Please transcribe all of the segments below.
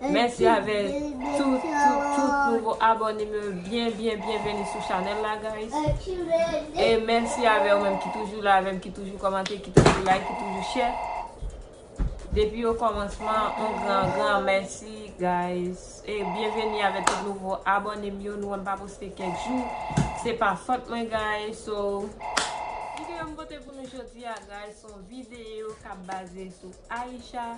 Mèsi avè tout tout tout nouvo abònem yo byen byen byen veni sou chanèl la guys e mèsi avè ou menm ki toujou la avèm ki toujou kòmante ki toujou like ki toujou share depi o kòmansman on gran gran mèsi guys e byen veni avè tout nouvo abònem yo nou wèm pa poste kèk jou se pa fòt mwen guys so videyo m pote pou nou jodi a guys son videyo kap baze sou Aïcha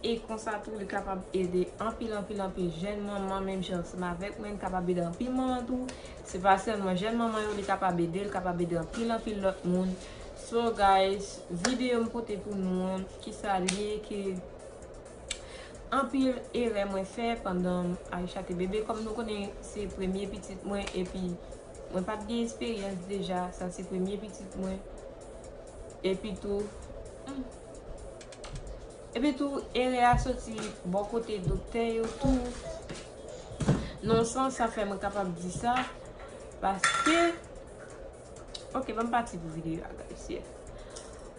E konsa tou li kapab ede anpil anpil anpil jèn manman menm jan ansanm avèk mwen, li kapab ede anpil manman tou, se pa sèlman jèn manman yo li kapab ede, li kapab ede anpil anpil lòt moun. So guys, videyo m pote pou nou an, kisa l ye ke anpil erè mwen fè pandan Aïcha te bebe, kòm nou konnen se premye pitit mwen epi mwen pat gen esperyans deja, sa se premye pitit mwen epi tou. Epi tou erè a soti bò kote doktè yo tou. Non san sa fè mwen kapab di sa. Paske. Ok banm pati pou videyo a guys yeah.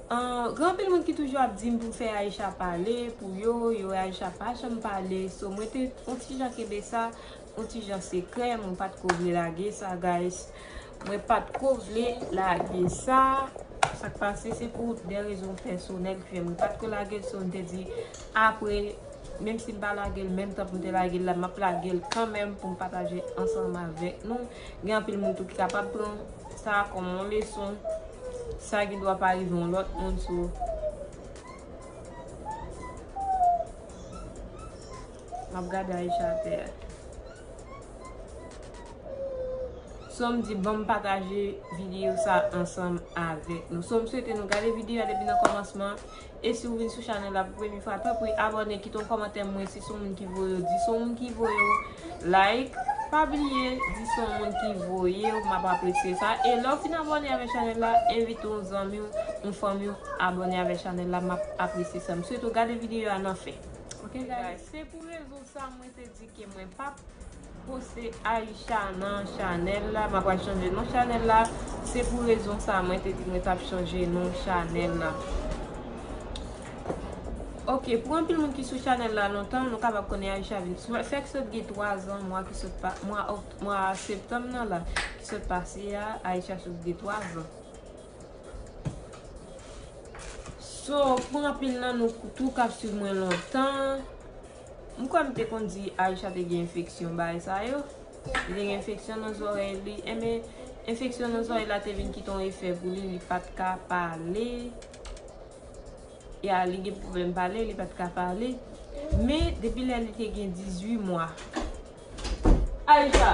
Gen anpil moun ki toujou ap dim pou fè Aïcha pale pou yo. Yo wè Aïcha pa janm pale. So mwen te on ti jan kenbe sa on ti jan sekrè. Mwen pat ko vle lage sa guys. Mwen pat ko vle lage sa. Sak pase se pou de rezon pèsonèl ki fè mwen pat ko lagel so m te di apre menm si m pa lagel menm tan pou m te lagel la map lagel kanmenm pou m pataje ansanm avèk nou gen anpil moun tou ki kapab pran sa kòm yon leson sa gen dwa pa rive yon lòt moun so. Map gade Aïcha atè a. Som di banm pataje video sa ansanm avèk nou. Som swete nou gade video a depi nan komansman. E si ou vin sou chanèl la pou premye fwa tanpri abòne kite yon komantè mwen si son moun ki voye ou. Di son moun ki voye ou like. Pa bliye di son moun ki voye ou map apresye sa. E lè ou fin abòne avèk chanèl la envite yon zanmi ou yon fanmi ou abòne avèk chanèl la map apresye sa. M swete ou gade video a nan fen. Ok guys se pou rezon sa mwen te di ke mwen pap poste Aïcha nan chanèl la mwen pral chanje non chanèl la se pou rezon sa mwen te di mwen tap chanje non chanèl la ok pou anpil moun ki sou chanèl la lontan nou kapab konnen Aïcha vin sou fèk sot gen 3 zan mwa ki sot mwa septanm nan la ki sot pase a Aïcha sot gen 3 zan. So pou anpil nan nou tou kap swiv mwen lontan M kwè m te konn di Aïcha te gen enfeksyon bagay sa yo Li te gen enfeksyon nan zòrèy li Enben enfeksyon nan zòrèy la te vin kite yon efè pou li Li pat ka pale Ya li gen pwoblèm pale Li pat ka pale Men depi lè li te gen 18 mwa Aïcha!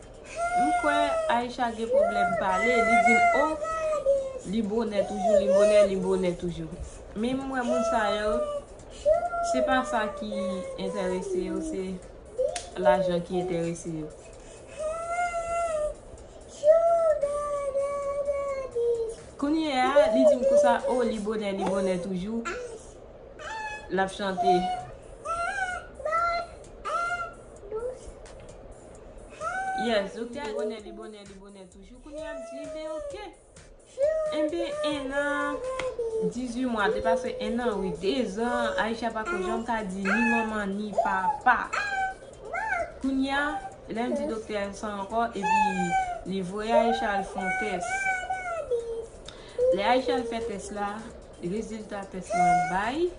M kwè Aïcha gen problème pale li dim oh li bonè toujou li bonè li bonè toujou min m wè moun sa yo se pa sa ki entèrese yo se lajan ki entèrese yo. Kounye a li dim konsa oh li bonè li bonè toujou lap chante. Yes ok li bonè li bonè li bonè toujou kounye a map di ben ok Enben 1 nan 18 mwa te pase 1 nan wi 2 zan Aïcha pako janm ka di ni manman ni papa Kounye a lèm di doktè a sa ankò epi li voye Aïcha al fon tès Lè Aïcha al fè tès la Rezilta tès lan bay.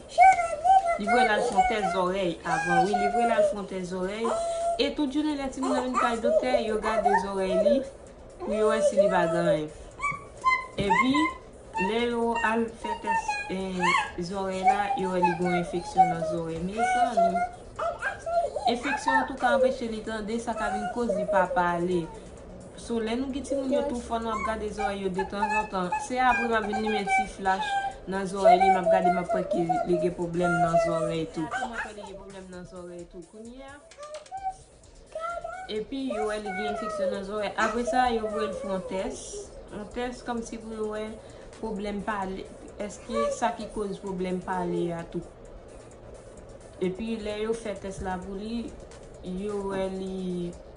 Li voye l al fè yon tès zòrèy avan wi. Li voye l al fè yon tès zòrèy. E tout jounen lè timoun nan vin kay doktè, yo gade zòrèy li pou yo wè si li pa gen anyen. Epi, lè yo al fè tès zòrèy la, yo wè li gen yon enfeksyon nan zòrèy. Mezanmi! Enfeksyon an tou ka anpeche li tande, sa ka vin koz li pa pale. So lè nou gen timoun yo tou fò nou ap gade zòrèy yo detanzantan. Se apre map vin limen ti flach nan zòrèy li map gade map wè ke li gen pwoblèm nan zòrèy tou. Mwen wè li gen pwoblèm nan zòrèy tou kounye a. Epi yo wè li gen enfeksyon nan zòrèy. Apre sa yo voye l fè yon tès. Yon tès kòmsi pou yo wè pwoblèm pale. Eske sa ki koz pwoblèm pale a tou. Epi lè yo fè tès la pou li yo wè li.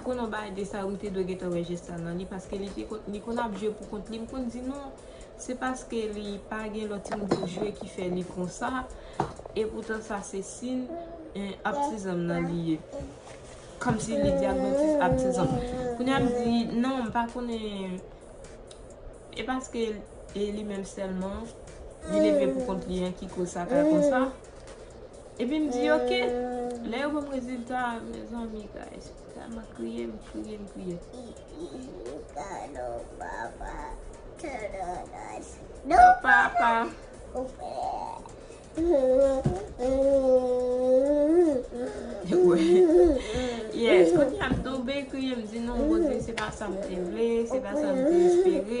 Pou nou bay desa wi te dwe gentan wè jès sa nan li paske li te konn li konn ap jwe pou kont li m konn di non se paske li pa gen lòt timoun pou jwe ki fè li konsa epoutan sa se sin yn abtizanm nan li ye kòmsi li di abdontis abtizanm kounya m di non m pa konnen e paske e li menm sèlman li leve pou kont li an ki koz sa fè l konsa. Epi m di ok, lè yo ban m rezilta a mezanmi guys m tèlman kriye m kriye m kriye. Yes kounye a m tonbe kriye m di non Bondye se pa sa m te vle se pa sa m te espere.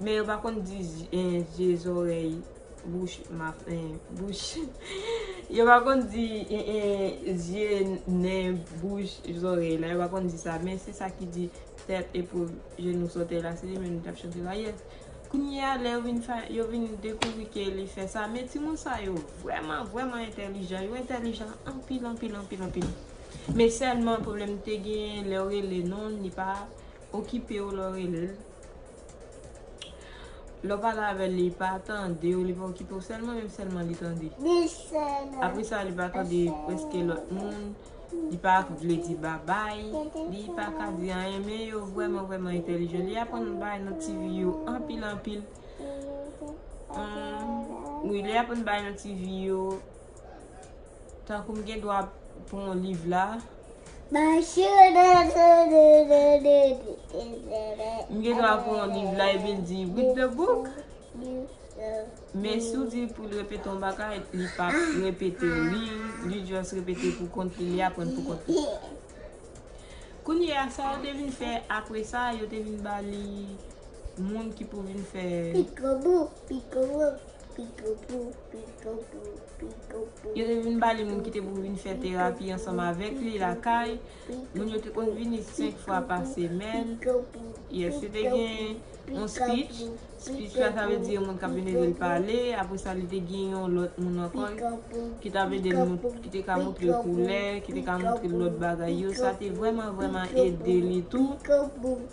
Men yo pa konn di je zorey bouch bouch yo pa konn di zye nen bouch zorey la yo pa konn di sa men se sa ki di tèt epou jenou sote la se li menm nou tap chante la yes kounye a lè yo vin dekouvri ke li fè sa men ti moun sa yo vrèman vrèman entèlijan yo entèlijan anpil anpil anpil anpil men sèlman pwoblèm te gen lè yo rele non li pa Okipe w lè w rele l. Lè w pale avè l, li pa tande w, li pa okipe w. Sèlman menm sèlman li tande. Apre sa, li pa tande prèske lòt moun. Li pa vle di babay. Li pa ka di anyen. Men yo vrèman vrèman entèlijan. Li aprann bay nan ti vi yo anpil anpil. Wi, li aprann bay nan ti vi yo. Tankou m gen dwa pou yon liv la. M gen dwa pou yon liv la epi l di read the book. Men si w di pou l repete yon bagay, li pa ap repete l. Li just repete pou kont li, li aprann pou kont li. Kounye a, sa yo te vin fè apre sa, yo te vin ba li moun ki pou vin fè. Yo te vin ba li moun ki te pou vin fè terapi ansanm avèk li lakay. Moun yo te konn vini 5 fwa pa semèn. Yes, yo te gen yon speech. Speech la ta vle di yon moun k ap vin ede l pale. Apre sa, li te gen yon lòt moun ankò ki t ap ede l, ki te ka montre l koulè, ki te ka montre l lòt bagay yo. Sa te vrèman, vrèman ede li tou.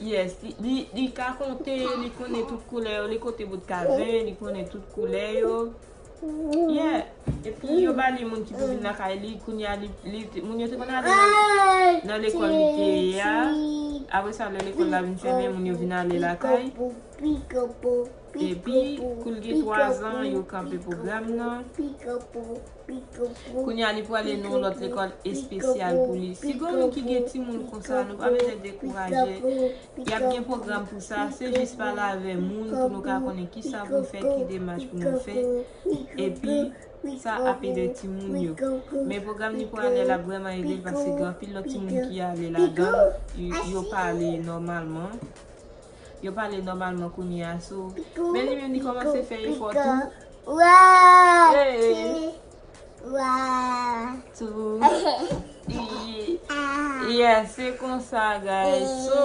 Yes li ka konte li konnen tout koulè yo li konte bout kazen li konnen tout koulè yo yeah epi yo bali moun ki pou vin lakay li kounya li moun yo te konn ale nan lekòl li te ye a apre sa lè lekòl la vin fèmen moun yo vin ale lakay epi kou l gen 3 zan yo kanpe pwogram nan. Kounya li pwale nan yon lòt lekòl espesyal pou li. Si gon moun ki gen timoun konsa nou pa bezwen dekouraje, yap gen pwogram pou sa, se jis pale avè moun pou nou ka konnen kisa pou nou fè, ki demach pou nou fè, epi sa ap ede timoun yo. Men pwogram li pwale la ap vrèman ede l paske gen anpil lòt timoun ki ale ladan l, yo pale nòmalman. Yo pale nòmalman kounye a sou. Men li menm li kòmanse fè efò tou. Yes, se konsa guys. So,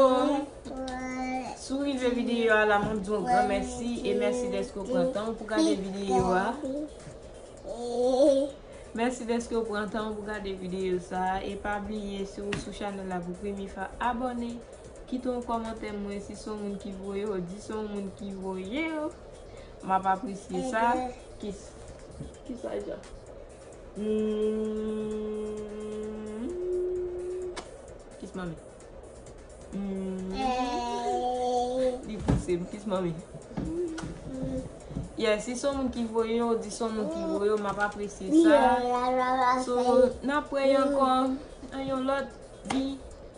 si w rive videyo a la, mwen di w yon gran mèsi. E mèsi dèske w pran tan w pou gade videyo a. Mèsi dèske w pran tan w pou gade videyo sa. E pa bliye si w sou chanèl la pou premye fwa, abòne. Kite yon kòmantè mwen si se w moun ki voye yo di se yon moun ki voye yo map apresye sa kiss. Ki sa ja. Humm kiss manmi humm li pouse m kiss manmi yeah si se yon moun ki voye yo di se yon moun ki voye yo map apresye sa so nan pran yon ankò yon lòt di.